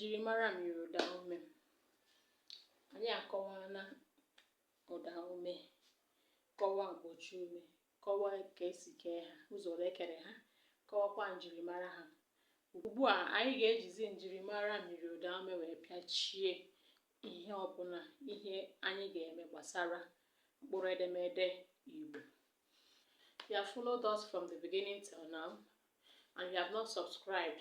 njirimara myiri ụdaume anyị akọwaana ụdaume kọwaa mgbochi ume kọwaa ka e si kee ha ụzọ ole e kere ha kọwakwa njirimara ha ugbu a anyị ga-ejizi njirimara myiri ụdaume wee pịachie ihe ọbụla ihe anyị ga-eme gbasara mkpụrụ edemede Igbo you have followed us from the beginning till now and you have not subscribed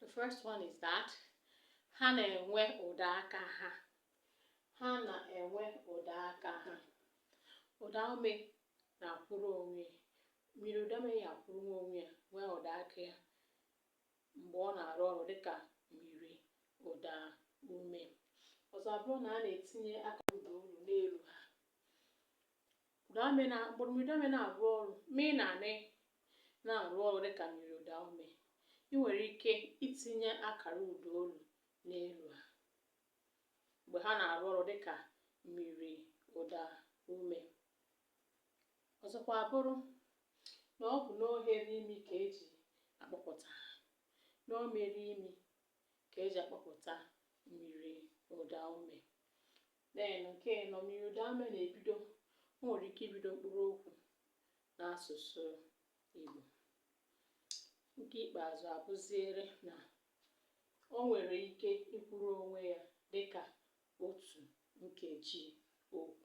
the first one is that ha na-enwe ụda aka ha ha na-enwe ụda aka ha ụda ume na-akwụrụ onwe myiri ụda ume ya akwụrụkwa onwe ya nwee ụda aka ya mgbe ọ na-arụ ọrụ dịka myiri ụda ume ọzọ abụrụ na a na-etinye akara ụda olu n'elu ha ụdaume na mkpụrụ myiri ụdaume na-arụ ọrụ m na n na-arụ ọrụ dịka myiri ụdaume ị nwere ike itinye akara ụda olu n'elu ha mgbe ha na-arụ ọrụ dịka myiri ụda ume ọzọkwa abụrụ na ọ bụ n'oghere imi ka e ji akpọpụta ha n'oghere imi ka e ji akpọpụta myiri ụdaume Then nke anọ, myiri ụdaume na-ebido, o nwere ike ibido mkpụrụ okwu n'asụsụ Igbo. Nke ikpeazụ abụziere na o nwere ike ịkwụrụ onwe ya dịka otu nkeji okwu.